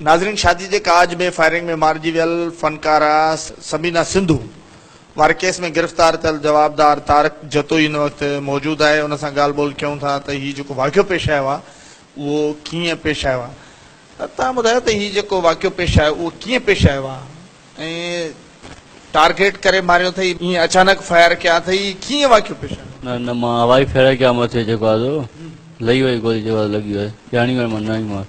ناظرين شادي جي ڪاڄ ۾ فائرنگ ۾ مارجي ويل فنڪاره ثمينه سنڌو واري ڪيس ۾ گرفتار ٿيل جوابدار طارق جتوئي هن وقت موجود آهي ان سان ڳالهه ٻولهه ڪيون ٿا ته هي جيڪو واقعو پيش آيو آهي اهو ڪيئن پيش آيو آهي توهان ٻڌايو ته هي جيڪو واقعو پيش آيو اهو ڪيئن پيش آيو آهي ۽ ٽارگيٽ ڪري ماريو اٿئي ائين اچانڪ فائر ڪيا اٿئي هي ڪيئن واقعو پيش آيو نه نه مان هوائي ڦيري ڪيا مٿي جيڪو آيو لهي وئي گولي جيڪو لڳي وئي ڄاڻي ويم نه آهي مان.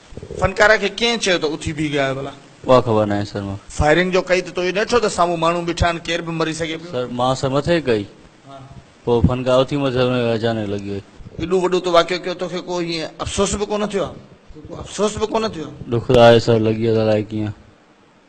فنڪاره کي ڪنهن چيو ته اٿي بيهه ڳائي ڀلا؟ اها خبر ناهي سر مون کي. فائرنگ جو ڪئي ته تو اهو ڏٺو ته سامهون ماڻهو بيٺا آهن ڪير به مري سگهي پيو. سر مان سر مٿي ڪئي پوء فنڪاره اٿي مٿي سر ۾ اچانڪ لڳي وئي. ايڏو وڏو تو واقعو ڪيو توکي ڪو هيئن افسوس به ڪونه ٿيو آهي؟ ڏک ته آهي سر لڳي ويو ته الائي ڪيئن